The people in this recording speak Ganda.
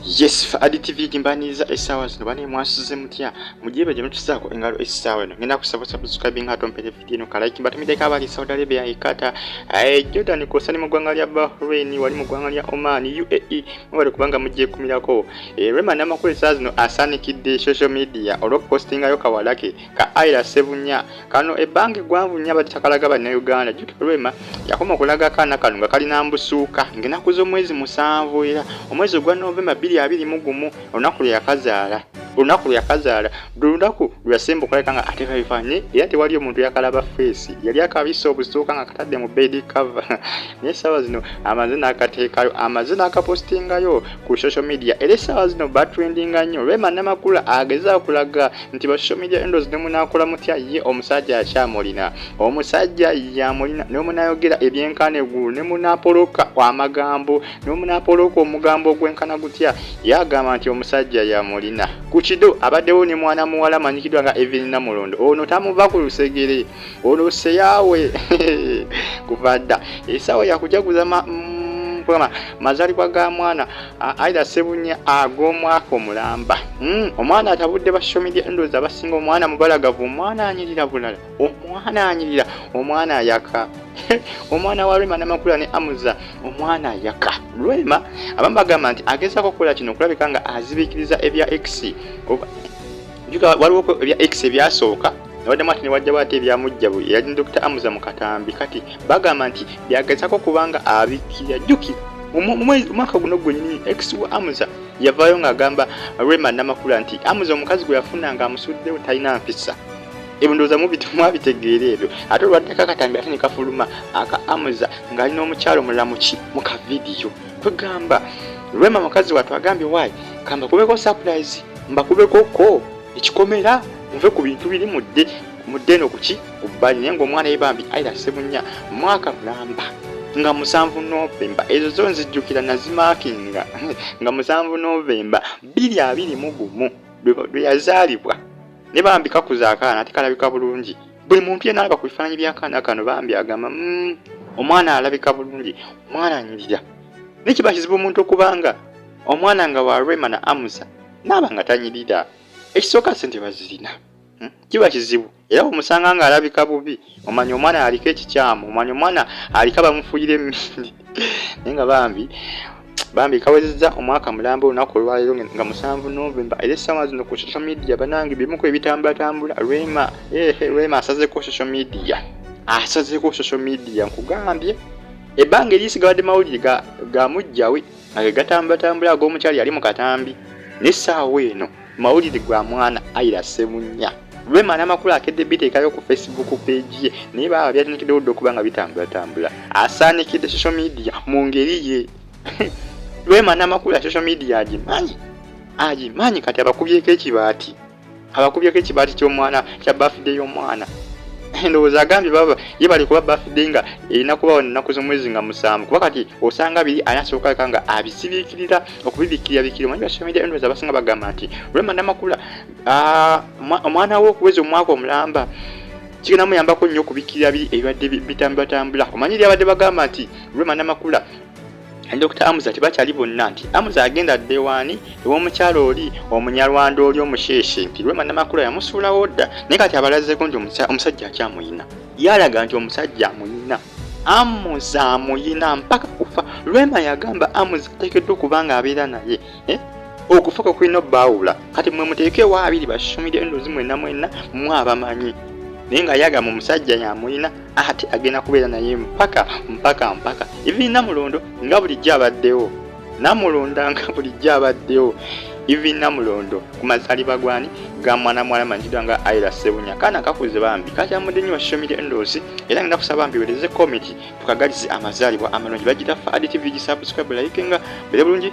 yes fa adtv gimbaniriza essaawa zino bane mwasuze mutya mugyeba gye mutusaako engalo essaawa eno ngenda kusaba subscribing nga tompere vidiyo eno kalike batumideko abali saudi arabia ekata eh, jordan kwosa ne mu ggwanga lya bahrain wali mu ggwanga lya oman uae mwebale kubanga mugyekumirako eh, rema namakulu essaawa zino asaanikidde social media olw'okupostingayo kawalake ka Aira Sebunya kano ebbanga eggwanvu nnyo abadde takalaga bannayuganda jjukira Rwema yakoma okulaga akaana kano nga kalina mbusuuka ng'ennaku z'omwezi musanvu era omwezi ogwa Novemba bbiri abiri mu gumu olunaku lwe yakazaala olunaku lwe yakazaala buli lunaku lwe yasemba okulabika nga ate babifanye era tewali omuntu yakalaba feesi yali akabisa obusuuka nga katadde mu bedi cover naye essaawa zino amaze n'akateekayo amaze n'akapositingayo ku social media era essaawa zino batrendinga nnyo Rwema Namakula agezaako kulaga nti ba social media endos ne munakola mutya ye omusajja akyamulina omusajja yamulina ne munayogera ebyenkana eggulu ne munapoloka amagambo ne munapoloka omugambo ogwenkana gutya yagamba nti omusajja yamulina ku kido abaddewo ne mwana muwala manyikidwa nga evin namulondo ono tamuva ku lusegere ono seyawe kuva dda esawa yakujaguza ma, mm, mazalibwa ga mwana aida sebunya ag'omwaka omulamba hmm, omwana atabudde ba social media endozi abasinga omwana mubalagavu omwana anyirira bulala omwana anyirira omwana ayaka omwana wa rema namakula ne amuza omwana ayaka rema abamu bagamba nti agezaako okukola kino okulabika nga azibikiriza ebya x njuka waliwo ebya x ebyasooka nabaddemu ati newajjawo ate ebyamujjabu eyali dr amuza mu katambi kati bagamba nti byagezako kubanga abikira jjukira omwaka guno gwenyini x wa amuza yavaayo ng'agamba rema namakula nti amuza omukazi gwe yafuna nga amusuddewo talina mpisa ebindooza mwabitegeera ebyo ate olwaddeko akatambi ate ne kafuluma aka amuza ng'ali n'omukyalo mulamuki mu kavidiyo kwegamba rema mukazi watwagambye wayi kamba kubeko surprise mbakubeko ko ekikomera muve ku bintu biri mudde mudde no kuki kubbali naye ngaomwana ye bambi aira sebunya mwaka mulamba nga musanvu novemba ezo zo nzijjukira nazimakinga nga musanvu novemba biri abiri mu gumu lwe yazaalibwa ne bambi kakuza akaana ate kalabika bulungi buli muntu yena alaba ku bifaananyi byakaana kano bambi agamba mm, omwana alabika bulungi omwana anyirira naye kiba kizibu omuntu okubanga omwana nga wa rema na amusa naaba nga tanyirira ekisooka sente bazirina hmm? kiba kizibu era omusanga nga alabika bubi omanya omwana aliko ekikyamu omanya omwana aliko abamufuyira emindi naye nga bambi bambi kawezeza omwaka mulamba olunaku olwalero nga musanvu novemba era essaawa zino ku social media banange bimuku ebitambulatambula rema ehe rema asazeko social media asazeko social media nkugambye ebbanga erisigawadde mawulire ga mujjawe Nange gatambulatambula ag'omukyala yali mu katambi n'essaawa eno mawulire gwa mwana ayira ssemunya lwema n'amakulu akedde biteekayo ku facebook page ye naye baaba byatandikiddewo dda okuba nga bitambulatambula asaanikidde social media mu ngeri ye lwema n'amakulu ya social media agimanyi agimanyi kati abakubyeko ekibaati abakubyeko ekibaati ky'omwana kya bafide y'omwana endowooza agambye baba ye bali kuba bafide nga erina kubawo nnaku z'omwezi nga musanvu kuba kati osanga biri ani asoboka leka nga abisibikirira okubibikkirira bikiri omanyi basomera endowooza abasinga bagamba nti rema namakula omwana wo okuweza omwaka omulamba kigenda muyambako nnyo okubikkirira biri ebibadde bitambulatambula omanyi lyabadde bagamba nti rema namakula ne Dr. Amuza tebakyali bonna nti Amuza agenda dda ewaani ew'omukyala oli omunyarwanda oli omusheeshe nti Rwema Namakula yamusuulawo dda naye kati abalazeeko nti omusajja akyamuyina yalaga nti omusajja amuyina Amuza amuyina mpaka kufa Rwema yagamba Amuza ateekeddwa okuba nga abeera naye eh? okufa kwe kulina obbaawula kati mwe muteekewo abiri basumire endozi mwenna mwenna mwe abamanyi naye nga yagamba omusajja yamuyina ate agenda kubeera naye mpaka mpaka mpaka even namulondo nga bulijjo abaddewo namulonda nga bulijjo abaddewo even namulondo ku mazaliba gwani ga mwana mwala manjidwa nga aira sebunya kana kakuze bambi kakyamudde nyo shomire endozi era ngenda kusaba bambi wereze komiti tukagalize amazalibwa amalungi bagira fa adtv gi subscribe like nga bere bulungi